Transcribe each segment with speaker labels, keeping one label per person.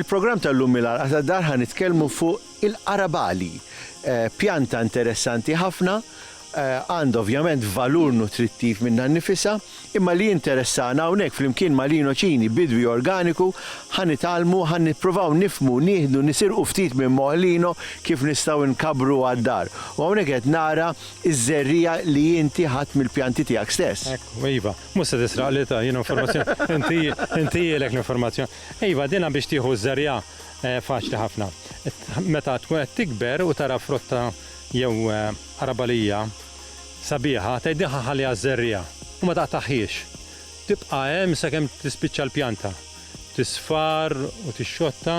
Speaker 1: Il-programm tal-lum mill-għalqa tad-dar ħa nitkellmu fuq il-qarabali. Eh, pjanta interessanti ħafna għandha ovvjament valur nutrittiv minnha nnifisha, imma li jinteressana hawnhekk flimkien ma' Lino Cini, bidwi organiku, ħa nitgħallmu, ħa nippruvaw nifhmu, nieħdu, nisirqu ftit minn moħħ Lino kif nistgħu nkabbru għad-dar. U hawnhekk qed nara ż-żerriegħa li inti ħadt mill-pjanti tiegħek stess. Ekku, iva. Mhux se
Speaker 2: tisraq li ta' jien informazzjoni, inti jgħilek l-informazzjoni. Iva, din biex tieħu ż-żerriegħa faċli ħafna. Meta tkun qed tikber u tara frott jew, Araba li hija sabiħa tgħidilha ħalliha żżerriha u ma taqtaħhiex. Tibqa' hemm sakemm tispiċċa l-pjanta, tisfar u tixxotta.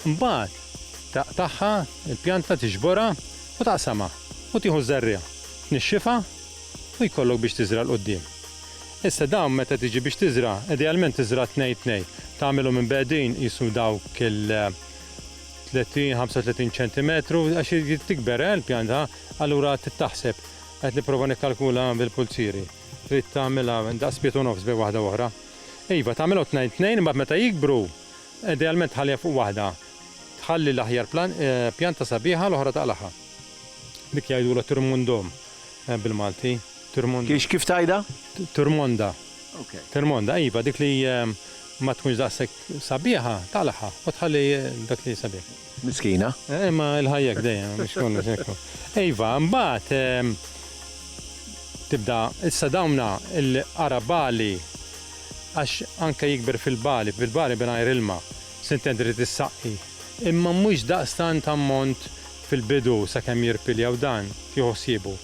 Speaker 2: Imbagħad taqtagħha l-pjanta, tiġborha u taqsamha u tieħu ż-żerriegħa, tnixxifha u jkollok biex tiżra' 'l quddiem. Issa dawn meta tiġi biex tiżra' idealment tiżra' tnejn tnejn, tagħmilhom imbegħdin qisu dawk il. 30, 35 ċentimetru, għax irid tikber eh, l-pjanta, allura trid taħseb. Qed nipprova nikkalkula bil-pulzieri. Trid tagħmilha daqs piet u nofs bejn waħda u oħra. Iva, tagħmilha tnejn tnejn, imbagħad meta jikbru, idealment tħallija fuq waħda. Tħalli l-aħjar eh, pjanta sabiħa l-oħra taqlaħa. Dik jgħidulha tirmundom eh, bil-Malti. Kiex kif
Speaker 1: tajda? Turmonda.
Speaker 2: Termonda, Iva, dik li ma tkunx daqshekk sabiħa, taqlagħha u tħalli dak li sabiħ. Miskina.
Speaker 1: Imma l-ħajja
Speaker 2: hekk dejjem, mhux kollox hekk hu. Iva, imbagħad tibda, issa dawna l-qara bagħli għax anke jikber fil-bagħli, fil-bagħli mingħajr ilma, se intendi trid issaqqi. Imma mhux daqstant ammont fil-bidu sakemm jirpilja u dan, tieħu ħsiebu.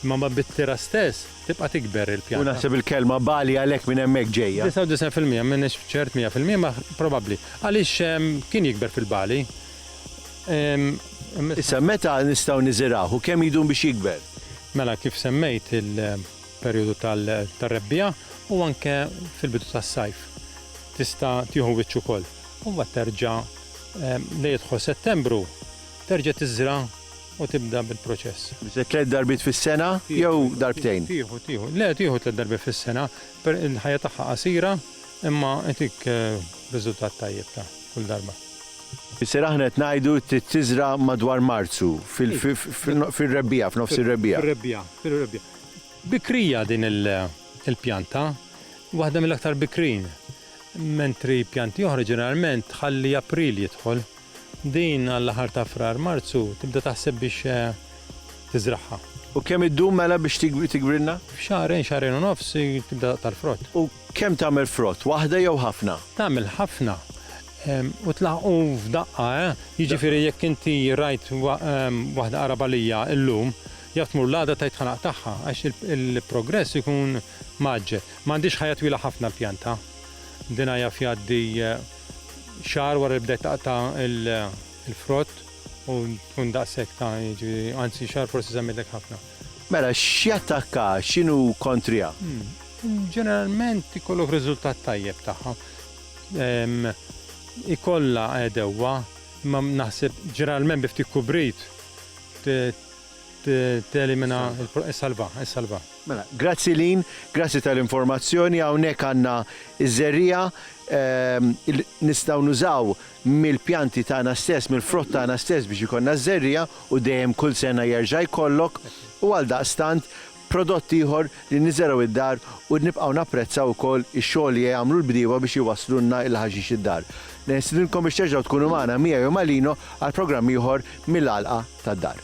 Speaker 2: Imma mbagħad bit-tira stess, tibqa' tikber il-pjanta. U naħseb il-kelma Bali
Speaker 1: għalhekk minn hemmhekk ġejja. 99 fil-mija, m'iniex
Speaker 2: ċert 100 fil-mija ma probabbli. Għaliex kien jikber fil-Bali.
Speaker 1: Issa meta nistgħu niżirgħuh u kemm jdum biex jikber? Mela kif
Speaker 2: semmejt il-perjodu tar-rebbiegħa u anke fil-bidu tas-sajf tista' tieħu wiċċ ukoll. U mbagħad terġa' lejn jidħol Settembru terġa' tiżra'. u tibda bil-proċess. Tliet darbiet
Speaker 1: fis-sena jew darbtejn? Tieħu, tieħu. Le, tieħu
Speaker 2: tliet darbiet fis-sena. Il-ħajja tagħha qasira, imma itik eh, riżultat tajjeb ta' kull darba. Isir aħna
Speaker 1: qed ngħidu tiżra madwar Marzu fil-rebbija, f'nofs ir-rebbija. Fir-rebbija, fir-rebbija.
Speaker 2: Bikrija din il-pjanta, waħda mill-aktar bikrin, mentri pjanti oħra ġeneralment tħalli April jidħol. Din għall-aħħar ta' Frar, Marzu tibda taħseb biex tiżragħha. U kemm iddum mela biex
Speaker 1: tigwrilna? F'xahrejn, xahrejn
Speaker 2: u nofs tibda taqta' l-frott. U kemm tagħmel
Speaker 1: frott, waħda jew ħafna? Tagħmel ħafna
Speaker 2: u tlaħħqu f'daqqa, eh! Jiġifieri jekk inti rajt waħda qarabalija illum, jaf tmur l-għada tgħid ħa naqtagħha għax il-progress ikun mgħaġġel. M'għandhiex ħajja twila ħafna l-pjanta. Dinha jaf jgħaddi Xahar wara li bdejt taqta' l-frott u tkun daqshekk ta' jiġifieri anzi xahar forsi żammidlek ħafna. Mela
Speaker 1: x'jattakka, x'inhu kontriha? Ġeneralment
Speaker 2: ikollok riżultat tajjeb tagħha. Ikollha għedewwa imma naħseb ġeneralment bi ftit kubrit Telimina il-pro. Issalva, issalva. Mela,
Speaker 1: grazzi Lynn, grazzi tal-informazzjoni. Hawnhekk għandna ż-żerriegħa li nistgħu nużaw mill-pjanti tagħna stess, mill-frott tagħna stess biex ikollna ż-żerriegħa u dejjem kull sena jerġa' jkollok u għaldaqstant Prodott ieħor li niżergħu d-dar u nibqgħu napprezzaw ukoll ix-xogħol li jagħmlu l-bdiewa biex iwasslulna il-ħaxix id-dar. Nistidinkom biex terġgħu tkunu magħna miegħi u ma' Lino għal programm ieħor mill-għalqa tad-dar.